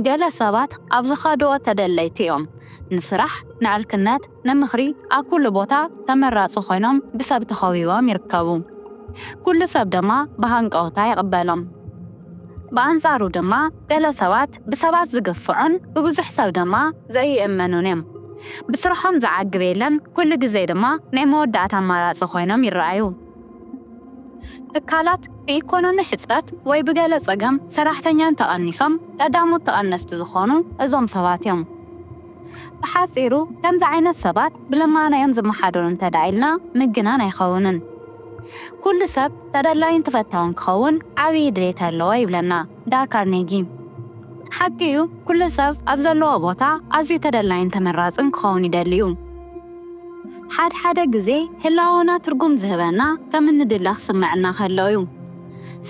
ገለ ሰባት ኣብ ዝኸድኦ ተደለይቲ እዮም። ንስራሕ፣ ንዕርክነት፣ ንምኽሪ ኣብ ኩሉ ቦታ ተመራጺ ኮይኖም ብሰብ ተኸቢቦም ይርከቡ። ኩሉ ሰብ ድማ ብሃንቀውታ ይቕበሎም። ብኣንጻሩ ድማ ገለ ሰባት ብሰባት ዝግፍዑን ብብዙሕ ሰብ ድማ ዘይእመኑን እዮም። ብስርሖም ዝዓግብ የለን፣ ኩሉ ግዜ ድማ ናይ መወዳእታ ኣማራጺ ኮይኖም ይረኣዩ። ትካላት ብኢኮኖሚ ሕፅረት ወይ ብገለ ፀገም ሰራሕተኛ እንተቐኒሶም ቀዳሞት ተቐነስቲ ዝኾኑ እዞም ሰባት እዮም። ብሓፂሩ ከምዚ ዓይነት ሰባት ብልማኖ እዮም ዝመሓደሩ እንተድኣ ኢልና ምግናን ኣይኸውንን። ኩሉ ሰብ ተደላዩን ተፈታውን ክኸውን ዓብዪ ድሌት ኣለዎ ይብለና። ዳል ካርኔጊ፣ ሓቂ እዩ፣ ኵሉ ሰብ ኣብ ዘለዎ ቦታ ኣዝዩ ተደላይን ተመራጽን ክኸውን ይደሊ እዩ። ሓድሓደ ግዜ ህላወና ትርጕም ዝህበና ከም እንድለ ክስምዓና ከሎ እዩ።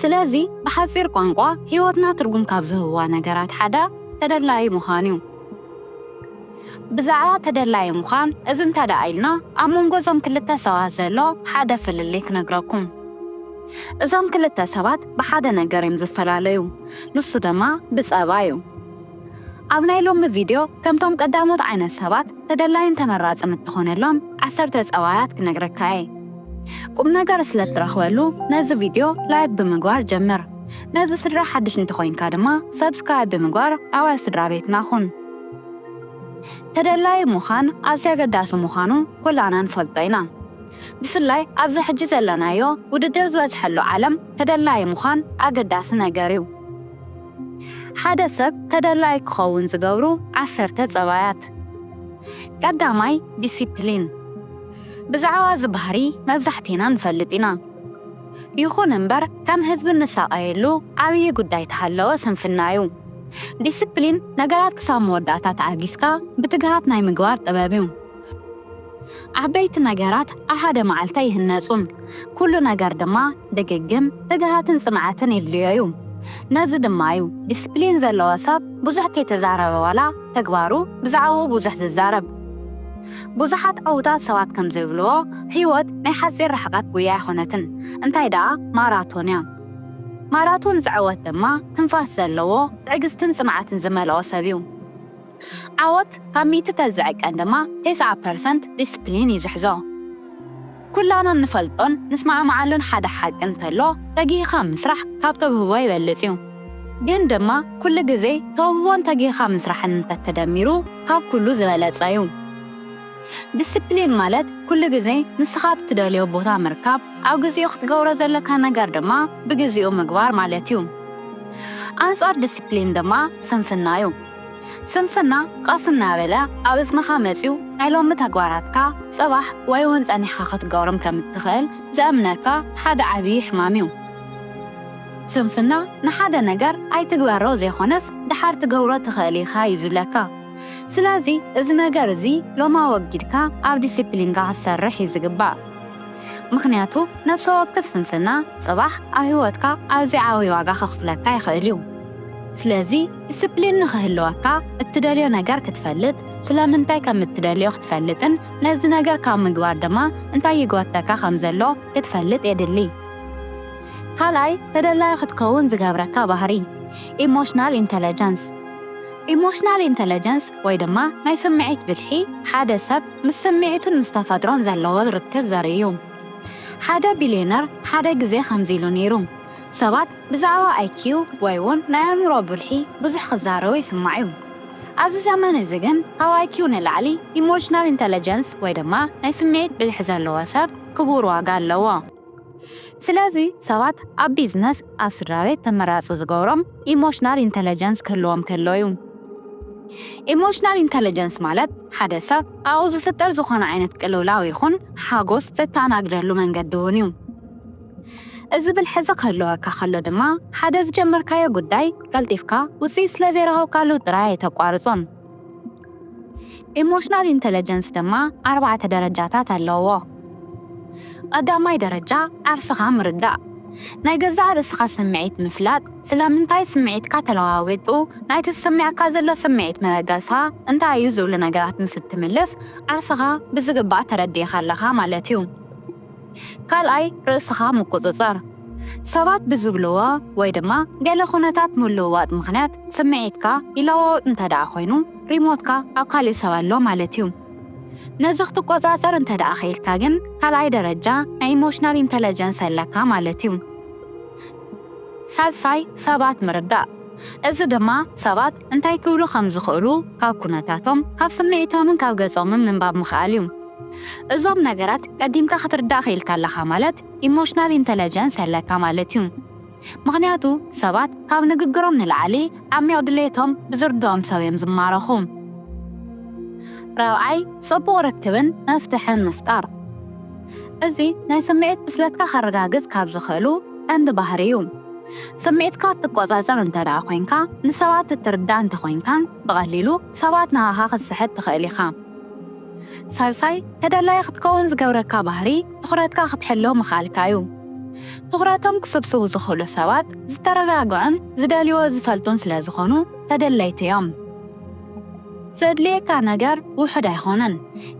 ስለዚ፣ ብሓጺር ቋንቋ ህይወትና ትርጕም ካብ ዝህቡዋ ነገራት ሓደ ተደላዪ ምዃን እዩ። ብዛዕባ ተደላዪ ምዃን እዚ እንተ ደኣ ኢልና ኣብ መንጎ እዞም ክልተ ሰባት ዘሎ ሓደ ፍልልይ ክነግረኩም። እዞም ክልተ ሰባት ብሓደ ነገር እዮም ዝፈላለዩ ንሱ ደማ ብጸባ እዩ። ኣብ ናይ ሎሚ ቪድዮ ከምቶም ቀዳሞት ዓይነት ሰባት ተደላዪን ተመራጽን እትኾነሎም ዓሰርተ ጸባያት ክነግረካ እየ። ቁምነገር ስለ እትረኽበሉ ነዚ ቪድዮ ላይክ ብምግባር ጀምር። ነዚ ስድራ ሓድሽ እንተኾይንካ ድማ Subscribe ብምግባር ኣባል ስድራ ቤትና ኩን። ተደላዪ ምዃን ኣዝዩ ኣገዳሲ ምዃኑ ኩላና ንፈልጦ ኢና። ብፍላይ ኣብዚ ሕጂ ዘለናዮ ውድድር ዝበዝሐሉ ዓለም ተደላዪ ምዃን ኣገዳሲ ነገር እዩ። ሓደ ሰብ ተደላዪ ክኸውን ዝገብሩ ዓሰርተ ፀባያት። ቀዳማይ፣ ዲሲፕሊን። ብዛዕባ እዚ ባህሪ መብዛሕቴና ንፈልጥ ኢና። ይኹን እምበር ከም ህዝቢ እንሳቐየሉ ዓብዪ ጉዳይ ተሃለወ ስንፍና ዩ። ዲስፕሊን ነገራት ክሳብ መወዳእታ ተኣጊስካ ብትግሃት ናይ ምግባር ጥበብ ዩ። ዓበይቲ ነገራት ኣብ ሓደ መዓልቲ ኣይህነፁን። ኩሉ ነገር ድማ ድግግም፣ ትግሃትን ፅንዓትን የድልዮ ዩ። ነዚ ድማ ዩ ዲስፕሊን ዘለዎ ሰብ ብዙሕ ከይተዛረበ ዋላ ተግባሩ ብዛዕብኡ ብዙሕ ዝዛረብ። ብዙሓት ዕዉታት ሰባት ከም ዚብልዎ፣ ህይወት ናይ ሓጺር ርሕቀት ጕያ ኣይኰነትን፣ እንታይ ደኣ ማራቶን እያ። ማራቶን ዝዕወት ድማ፣ ትንፋስ ዘለዎ፣ ትዕግስትን ጽንዓትን ዝመልኦ ሰብ እዩ። ዓወት ካብ ሚእቲ ተዝዕቀን ድማ፣ ተስዓ ፐርሰንት ዲስፕሊን እዩ ዝሕዞ። ኩላና እንፈልጦን ንስማዕማዓሉን ሓደ ሓቂ እንተሎ ተጊህኻ ምስራሕ ካብ ተውህቦ ይበልጽ እዩ። ግን ድማ ኩሉ ግዜ ተውህቦን ተጊህኻ ምስራሕን እንተ ተደሚሩ ካብ ኩሉ ዝበለጸ እዩ። ድስፕሊን ማለት ኩሉ ግዜ ንስኻ ኣብ እትደልዮ ቦታ ምርካብ፣ ኣብ ግዚኡ ክትገብሮ ዘለካ ነገር ድማ ብግዚኡ ምግባር ማለት እዩ። ኣንጻር ድስፕሊን ድማ ስንፍና እዩ። ስንፍና ቐስ እናበለ ኣብ እዝንኻ መጺኡ ናይ ሎሚ ተግባራትካ ጽባሕ ወይ እውን ጸኒሕካ ክትገብሮም ከም እትኽእል ዘእምነካ ሓደ ዓብዪ ሕማም እዩ። ስንፍና ንሓደ ነገር ኣይትግበሮ ዘይኮነስ ደሓር ትገብሮ ትኽእል ኢኻ እዩ ዝብለካ። ስለዚ እዚ ነገር እዚ ሎሚ ኣወጊድካ ኣብ ዲሲፕሊንካ ክትሰርሕ እዩ ዝግባእ። ምኽንያቱ ነብሰ ወክፍ ስንፍና ጽባሕ ኣብ ህይወትካ ኣዝዩ ዓብዪ ዋጋ ከኽፍለካ ይኽእል እዩ። ስለዚ። ዲስፕሊን ንኽህልወካ፣ እትደልዮ ነገር ክትፈልጥ፣ ስለምንታይ ከም እትደልዮ ክትፈልጥን ነዚ ነገር ካብ ምግባር ድማ እንታይ ይጎትተካ ከም ዘሎ ክትፈልጥ የድሊ። ካልኣይ ተደላዪ ክትከውን ዝገብረካ ባህሪ፣ ኢሞሽናል ኢንተለጀንስ፣ Emotional Intelligence፣ ወይ ድማ ናይ ስምዒት ብልሒ፣ ሓደ ሰብ ምስ ስምዒቱን ምስ ተፈጥሮን ዘለዎ ርክብ ዘርኢ'ዩ። ሓደ ቢልዮነር ሓደ ግዜ ከምዚ ኢሉ ነይሩ፣ ሰባት ብዛዕባ ኣይኪው ወይ'ውን ናይ ኣእምሮ ብልሒ ብዙሕ ክዛረቡ ይስማዕ'ዩ። ኣብዚ ዘመን እዚ ግን ካብ ኣይኪው ንላዕሊ ኢሞሽናል ኢንተለጀንስ ወይ ድማ ናይ ስምዒት ብልሒ ዘለዎ ሰብ ክቡር ዋጋ ኣለዎ። ስለዚ ሰባት ኣብ ቢዝነስ ኣብ ስድራቤት ተመራጹ ዝገብሮም ኢሞሽናል ኢንተለጀንስ ክህልዎም ከሎ'ዩ። ኢሞሽናል ኢንተለጀንስ ማለት ሓደ ሰብ ኣብኡ ዝፍጠር ዝኾነ ዓይነት ቅልውላው ይኹን ሓጎስ ዘተኣናግደሉ መንገዲ'ውን'ዩ። እዚ ብልሒ'ዚ ክህልወካ ከሎ ድማ፣ ሓደ ዝጀመርካዮ ጉዳይ ቀልጢፍካ ውጽኢት ስለ ዘይረኸብካሉ ጥራይ ኣይተቋርጾን። ኢሞሽናል ኢንተለጀንስ ድማ ኣርባዕተ ደረጃታት ኣለዉዎ። ቐዳማይ ደረጃ፣ ዓርስኻ ምርዳእ፣ ናይ ገዛእ ርእስኻ ስምዒት ምፍላጥ፣ ስለምንታይ ስምዒትካ ተለዋዊጡ፣ ናይቲ ዝስመዐካ ዘሎ ስምዒት መበገስኻ እንታይ እዩ ዝብሉ ነገራት ምስ እትምልስ ዓርስኻ ብዝግባእ ተረዲእኻ ኣለኻ ማለት እዩ። ካልኣይ ርእስኻ ምቁጽጻር፣ ሰባት ብዝብልዎ ወይ ድማ ገለ ኩነታት ምልውዋጥ ምኽንያት ስምዒትካ ይለዋወጥ እንተድኣ ኮይኑ ሪሞትካ ኣብ ካሊእ ሰብ ኣሎ ማለት እዩ። ነዚ ክትቆጻጸር እንተድኣ ክኢልካ ግን ካልኣይ ደረጃ ናይ ኢሞሽናል ኢንተለጀንስ ኣለካ ማለት እዩ። ሳልሳይ ሰባት ምርዳእ፣ እዚ ድማ ሰባት እንታይ ክብሉ ከም ዝኽእሉ ካብ ኩነታቶም፣ ካብ ስምዒቶምን ካብ ገጾምን ምንባብ ምኽኣል እዩ። እዞም ነገራት ቀዲምካ ክትርዳእ ክኢልካ ኣለኻ ማለት ኢሞሽናል ኢንተለጀንስ ኣለካ ማለት እዩ። ምኽንያቱ ሰባት ካብ ንግግሮም ንላዕሊ ዓሚቕ ድሌቶም ብዝርድኦም ሰብ እዮም ዝማረኹ። ራብዓይ፣ ጽቡቕ ርክብን መፍትሕን ምፍጣር። እዚ ናይ ስምዒት ብስለትካ ከረጋግጽ ካብ ዝኽእሉ ቀንዲ ባህሪ እዩ። ስምዒትካ እትቆጻጸር እንተድኣ ኮይንካ፣ ንሰባት እትርዳእ እንተኾይንካን ብቐሊሉ ሰባት ንኣኻ ክትስሕብ ትኽእል ኢኻ። ሳልሳይ፣ ተደላዪ ክትከውን ዝገብረካ ባህሪ ትኹረትካ ክትሕሉ ምኽኣልካ እዩ። ትኹረቶም ክስብስቡ ዝኽእሉ ሰባት ዝተረጋግዑን ዝደልዩዎ ዝፈልጡን ስለ ዝኾኑ ተደለይቲ እዮም። ዘድልየካ ነገር ውሑድ ኣይኮነን፣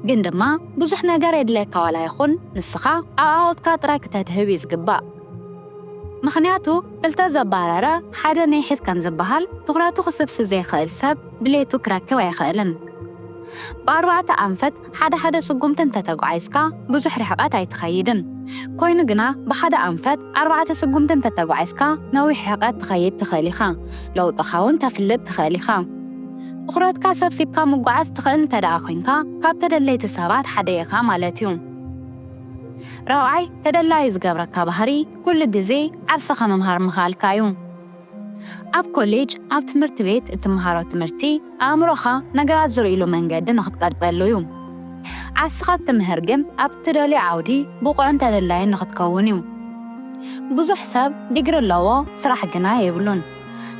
ግን ድማ ብዙሕ ነገር የድልየካ ዋላ ይኹን ንስኻ ኣብ ዓወትካ ጥራይ ክተድህብ እዩ ዝግባእ። ምኽንያቱ ክልተ ዘባረረ ሓደ ነይሕዝ ከም ዝበሃል፣ ትኹረቱ ክስብስብ ዘይክእል ሰብ ድሌቱ ክረክብ ኣይኽእልን። ብኣርባዕተ ኣንፈት ሓደ ሓደ ስጉምቲ እንተ ተጓዒዝካ ብዙሕ ርሕቐት ኣይትኸይድን። ኮይኑ ግና ብሓደ ኣንፈት ኣርባዕተ ስጉምቲ እንተ ተጓዒዝካ ነዊሕ ርሕቐት ትኸይድ ትኽእል ኢኻ፣ ለውጥኻውን ተፍልጥ ትኽእል ኢኻ። ትኹረትካ ሰብሲብካ ምጉዓዝ ትኽእል እንተድኣ ኮይንካ ካብ ተደለይቲ ሰባት ሓደ ኢኻ ማለት እዩ። ራብዓይ ተደላዪ ዝገብረካ ባህሪ ኩሉ ግዜ ዓርስኻ ምምሃር ምኽኣልካ እዩ። ኣብ ኮሌጅ፣ ኣብ ትምህርቲ ቤት እትመሃሮ ትምህርቲ ኣእምሮኻ ነገራት ዝርእይሉ መንገዲ ንኽትቀርጸሉ እዩ። ዓርስኻ እትምህር ግን ኣብ እትደልዮ ዓውዲ ብቑዕን ተደላዪን ንኽትከውን እዩ። ብዙሕ ሰብ ዲግሪ ኣለዎ ስራሕ ግና የብሉን።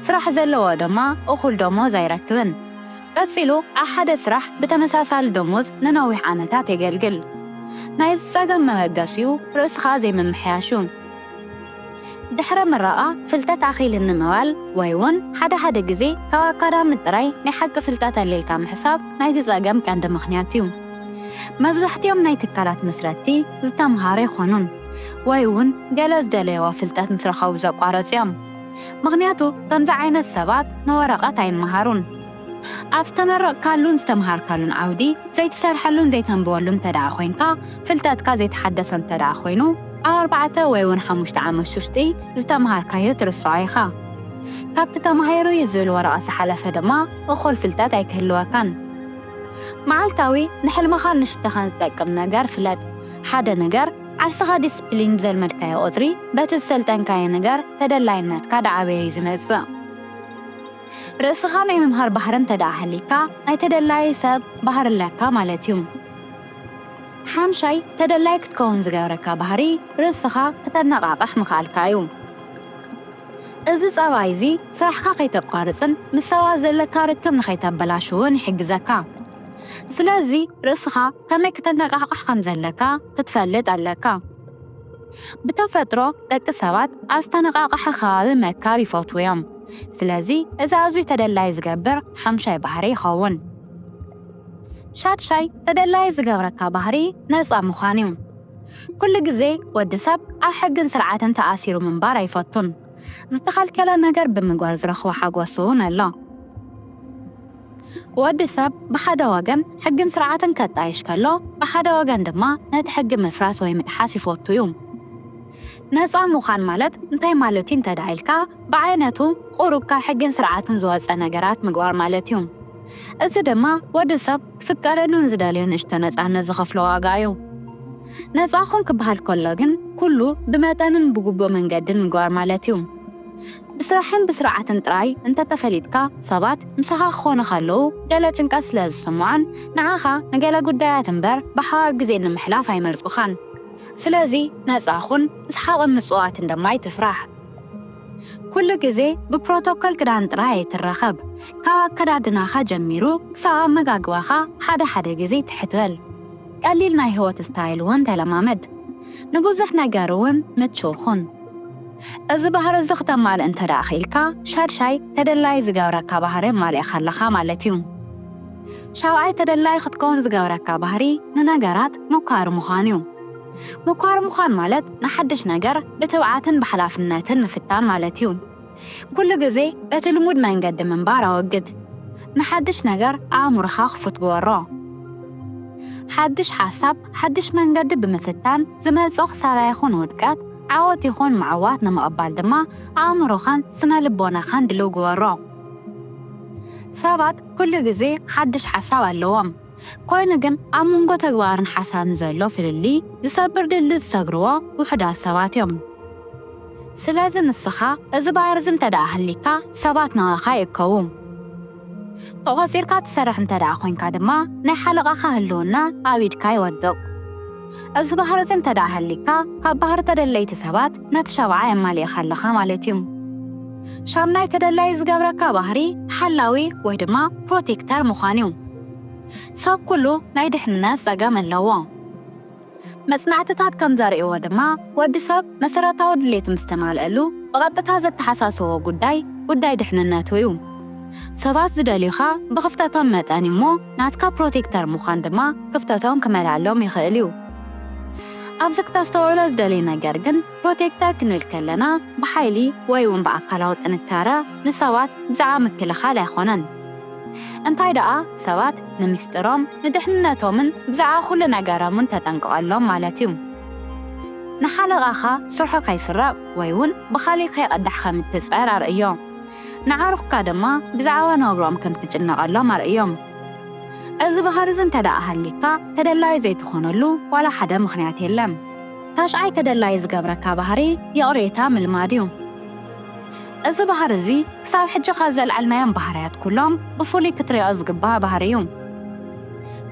ስራሕ ዘለዎ ድማ እኹል ደሞዝ ኣይረክብን። ቀጺሉ ኣብ ሓደ ስራሕ ብተመሳሳሊ ደሞዝ ንነዊሕ ዓመታት የገልግል። ናይዚ ጸገም መበገሲኡ ርእስኻ ዘይምምሕያሽ'ዩ። ድሕረ ምረቓ ፍልጠት ኣኺልኒ ምባል ወይ'ውን ሓደ ሓደ ግዜ ካብ ኣካዳሚ ጥራይ ናይ ሓቂ ፍልጠት ኣልይልካ ምሕሳብ ናይዚ ጸገም ቀንዲ ምኽንያት'ዩ። መብዛሕቲኦም ናይ ትካላት መስረትቲ ዝተምሃሩ ኣይኮኑን ወይ'ውን ገለ ዝደለይዎ ፍልጠት ምስ ረኸቡ ዘቋረጹ'ዮም። ምኽንያቱ ከምዚ ዓይነት ሰባት ንወረቐት ኣይመሃሩን። ኣብ ዝተመረቕካሉን ዝተምሃርካሉን ዓውዲ ዘይትሰርሐሉን ዘይተንብበሉን እንተድኣ ኮይንካ፣ ፍልጠትካ ዘይተሓደሰ እንተድኣ ኮይኑ፣ ኣብ ኣርባዕተ ወይ'ውን ሓሙሽተ ዓመት ሹሽጢ ዝተምሃርካዮ ትርስዖ ኢኻ። ካብቲ ተማሂሩ እዩ ዝብል ወረቐት ዝሓለፈ ድማ እኹል ፍልጠት ኣይክህልወካን። መዓልታዊ ንሕልምኻን ንሽቶኻን ዝጠቅም ነገር ፍለጥ። ሓደ ነገር። ዓርስኻ ዲስፕሊን ዘልመድካዮ ቁጽሪ በቲ ዝሰልጠንካዮ ነገር ተደላይነትካ ዳዓበየ እዩ ዝመጽእ። ርእስኻ ናይ ምምሃር ባህሪ እንተዳኣ ሃልይካ ናይ ተደላዪ ሰብ ባህሪ ኣለካ ማለት እዩ። ሓምሻይ ተደላዪ ክትከውን ዝገብረካ ባህሪ ርእስኻ ክተነቓቕሕ ምኽኣልካ እዩ። እዚ ጸባይ እዚ ስራሕካ ከይተቋርጽን ምስ ሰባት ዘለካ ርክብ ንኸይተበላሽውን ይሕግዘካ። ስለዚ ርእስኻ ከመይ ክተነቓቕሕ ከም ዘለካ ክትፈልጥ ኣለካ። ብተፈጥሮ ደቂ ሰባት ኣብ ዝተነቓቕሐ ከባቢ ምእካብ ይፈትዉ እዮም። ስለዚ እዚ ኣዝዩ ተደላዪ ዝገብር ሓምሻይ ባህሪ ይኸውን። ሻድሻይ ተደላዪ ዝገብረካ ባህሪ ነጻ ምዃን እዩ። ኩሉ ግዜ ወዲ ሰብ ኣብ ሕግን ስርዓትን ተኣሲሩ ምንባር ኣይፈቱን። ዝተኸልከለ ነገር ብምግባር ዝረኽቦ ሓጎስ እውን ኣሎ። ወዲ ሰብ ብሓደ ወገን ሕግን ስርዓትን ከጣይሽ ከሎ፣ ብሓደ ወገን ድማ ነቲ ሕጊ ምፍራስ ወይ ምጥሓስ ይፈቱ እዩ። ነጻ ምዃን ማለት እንታይ ማለት እዩ እንተድኣ ኢልካ፣ ብዓይነቱ ቁሩብ ካብ ሕግን ስርዓትን ዝወጸ ነገራት ምግባር ማለት እዩ። እዚ ድማ ወዲ ሰብ፣ ክፍቀደሉን ዝደልዮ ንእሽቶ ነጻነት ዝኸፍሎ ዋጋ እዩ። ነጻ ኩን ክበሃል ከሎ ግን ኩሉ ብመጠንን ብግቡእ መንገድን ምግባር ማለት እዩ። ብስራሕን ብስርዓትን ጥራይ እንተተፈሊጥካ ሰባት ምሳኻ ክኾኑ ከለዉ ገለ ጭንቀት ስለ ዝስምዖን ንዓኻ ንገለ ጉዳያት እምበር ብሓባር ግዜ ንምሕላፍ ኣይመርጹኻን። ስለዚ ነጻ ኩን፣ እስሓቕን ምጽዋትን ድማ ኣይትፍራሕ። ኩሉ ግዜ ብፕሮቶኮል ክዳን ጥራይ ኣይትራኸብ። ካብ ኣከዳድናኻ ጀሚሩ ክሳብ ኣመጋግባኻ ሓደ ሓደ ግዜ ትሕት በል። ቀሊል ናይ ህይወት ስታይል እውን ተለማመድ። ንብዙሕ ነገር እውን ምቹው ኹን። እዚ ባህሪ እዚ ክተማልእ እንተድኣ ክኢልካ ሻድሻይ ተደላዪ ዝገብረካ ባህሪ ኣማሊእኻ ኣለኻ ማለት እዩ። ሻብዓይ ተደላዪ ክትከውን ዝገብረካ ባህሪ ንነገራት ምኳር ምዃን እዩ። ምኳር ምዃን ማለት ንሓድሽ ነገር ብትብዓትን ብሓላፍነትን ምፍታን ማለት እዩ። ኩሉ ግዜ እቲ ልሙድ መንገዲ ምንባር ኣወግድ። ንሓድሽ ነገር ኣእምሮኻ ክፉት ግበሮ። ሓድሽ ሓሳብ ሓድሽ መንገዲ ብምፍታን ዝመጽእ ክሳራ ይኹን ውድቀት፣ ዓወት ይኹን ምዕዋት ንምቕባል ድማ ኣእምሮኻን ስነ ልቦናኻን ድልው ግበሮ። ሰባት ኩሉ ግዜ ሓድሽ ሓሳብ ኣለዎም። ኮይኑ ግን ኣብ መንጎ ተግባርን ሓሳብን ዘሎ ፍልልይ ዝሰብር ድልድል ዝሰግርዎ ውሑዳት ሰባት እዮም። ስለዚ ንስኻ እዚ ባህሪዚ እንተድኣ ሃልይካ ሰባት ናባኻ ይእከቡ። ተቖጺርካ ትሰርሕ እንተድኣ ኮይንካ ድማ ናይ ሓለቓኻ ህልውና ኣብ ኢድካ ይወድቕ። እዚ ባህሪዚ እንተድኣ ሃልይካ ካብ ባህሪ ተደለይቲ ሰባት ነቲ ሻብዓይ ኣማሊእኻ ኣለኻ ማለት እዩ። ሻምናይ ተደላዪ ዝገብረካ ባህሪ ሓላዊ ወይ ድማ ፕሮቴክተር ምዃን እዩ። ሰብ ኩሉ ናይ ድሕንነት ጸገም ኣለዎ። መጽናዕትታት ከም ዘርእይዎ ድማ ወዲ ሰብ መሰረታዊ ድሌቱ ምስ ተማልኣሉ ብቐጥታ ዘተሓሳስቦ ጉዳይ ጉዳይ ድሕንነቱ እዩ። ሰባት ዝደልዩኻ ብኽፍተቶም መጠን እዩ እሞ፣ ናትካ ፕሮቴክተር ምዃን ድማ ክፍተቶም ክመልኣሎም ይኽእል እዩ። ኣብዚ ክተስተውዕሎ ዝደልይ ነገር ግን ፕሮቴክተር ክንብል ከለና ብሓይሊ ወይ'ውን ብኣካላዊ ጥንካረ ንሰባት ብዛዕባ ምክልኻል ኣይኮነን። እንታይ ደኣ ሰባት ንሚስጥሮም፣ ንድሕንነቶምን ብዛዕባ ኩሉ ነገሮምን ተጠንቅቐሎም ማለት እዩ። ንሓለቓኻ ስርሑ ከይስረቕ ወይ'ውን ብኻልእ ከይቐዳሕ ከም እትጽዕር ኣርእዮ። ንዓርኩካ ድማ ብዛዕባ ናብርኦም ከም ትጭነቐሎም ኣርእዮም። እዚ ባህሪ'ዚ እንተደኣ ሃልይካ፣ ተደላዪ ዘይትኾነሉ ዋላ ሓደ ምኽንያት የለን። ታሽዓይ ተደላዪ ዝገብረካ ባህሪ ይቕሬታ ምልማድ'ዩ። እዚ ባህሪ'ዚ ክሳብ ሕጂ ካብ ዘልዓልናዮም ባህርያት ኩሎም ብፍሉይ ክትሪኦ ዝግባእ ባህሪ'ዩ።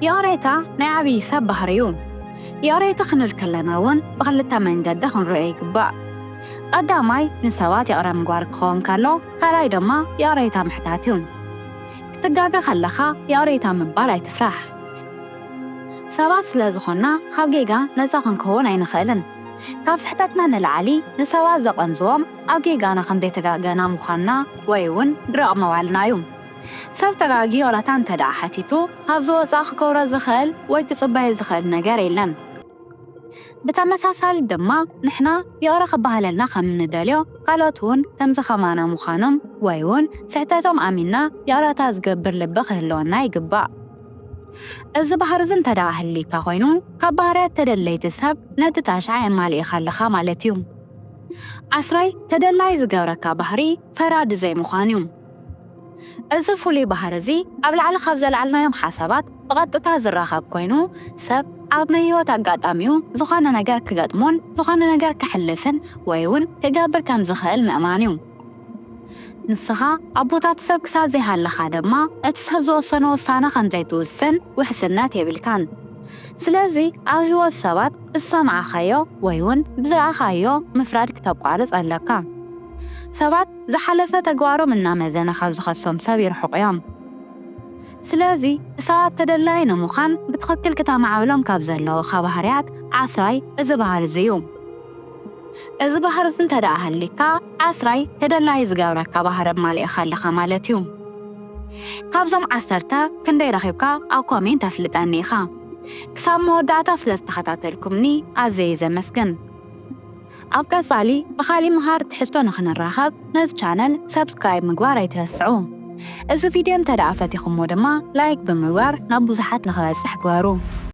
ይቕሬታ ናይ ዓብዪ ሰብ ባህሪ'ዩ። ይቕሬታ ክንብል ከለና'ውን ብኽልተ መንገዲ ክንሪኦ ይግባእ። ቐዳማይ ንሰባት ይቕረ ምግባር ክኸውን ከሎ ካልኣይ ድማ ይቕሬታ ምሕታት እዩ። ክትጋገ ከለኻ ይቕሬታ ምባል ኣይትፍራሕ። ሰባት ስለ ዝኾንና ካብ ጌጋ ነጻ ክንከውን ኣይንኽእልን። ካብ ስሕተትና ንላዕሊ ንሰባት ዘቐንዝዎም ኣብ ጌጋና ከም ዘይተጋገና ምዃንና ወይ እውን ድርቕ ምባልና እዩ። ሰብ ተጋግዩ ይቕረታ እንተድኣ ሓቲቱ ካብዚ ወጻኢ ክገብሮ ዝኽእል ወይ ክጽበዮ ዝኽእል ነገር የለን። ብተመሳሳሊ ድማ ንሕና ይቕረ ክበሃለልና ከም እንደልዮ ካልኦት ውን ከምዚ ከማና ምዃኖም ወይ ውን ስሕተቶም ኣሚንና ይቕረታ ዝገብር ልቢ ክህልወና ይግባእ። እዚ ባህሪዚ እንተድኣ ሃልይካ ኮይኑ ካብ ባህርያት ተደለይቲ ሰብ ነቲ ታሽዓ የማልኢኻ ኣለኻ ማለት ዩ። ዓስራይ ተደላይ ዝገብረካ ባህሪ። ፈራዲ ዘይምዃን እዩ። እዚ ፍሉይ ባህሪ እዚ ኣብ ላዕሊ ካብ ዘልዓልናዮም ሓሳባት ብቐጥታ ዝራኸብ ኮይኑ፣ ሰብ ኣብ ናይ ህይወት ኣጋጣሚኡ ዝኾነ ነገር ክገጥሞን ዝኾነ ነገር ከሕልፍን ወይ እውን ክገብር ከም ዝኽእል ምእማን እዩ። ንስኻ ኣብ ቦታ እቲ ሰብ ክሳብ ዘይሃለኻ ድማ እቲ ሰብ ዝወሰኖ ውሳነ ከም ዘይትውስን ውሕስነት የብልካን። ስለዚ ኣብ ህይወት ሰባት ዝሰምዓኻዮ ወይ'ውን ብዝረኣኻዮ ምፍራድ ክተቋርጽ ኣለካ። ሰባት ዝሓለፈ ተግባሮም እናመዘነ ካብ ዝኸሶም ሰብ ይርሕቑ'ዮም። ስለዚ ንሰባት ተደላዪ ንምዃን ብትኽክል ክተማዕብሎም ካብ ዘለወኻ ባህርያት ዓስራይ እዚ ባህሪ'ዚ'ዩ። እዚ ባህሪ'ዚ እንተደኣ ሃልይካ ዓስራይ ተደላዪ ዝገብረካ ባህሪ ኣማሊእኻ ኣለኻ ማለት'ዩ። ካብዞም ዓሰርተ ክንደይ ረኺብካ ኣብ ኮሜንት ኣፍልጠኒ ኢኻ። ክሳብ መወዳእታ ስለ ዝተኸታተልኩምኒ ኣዘየ ዘመስግን። ኣብ ቀጻሊ ብኻሊእ መሃር ትሕዝቶ ንኽንራኸብ ነዚ ቻነል subscribe ምግባር ኣይትረስዑ። እዚ ቪድዮ እንተድኣ ፈቲኹሞ ድማ like ብምግባር ናብ ብዙሓት ንኽበጽሕ ግበሩ።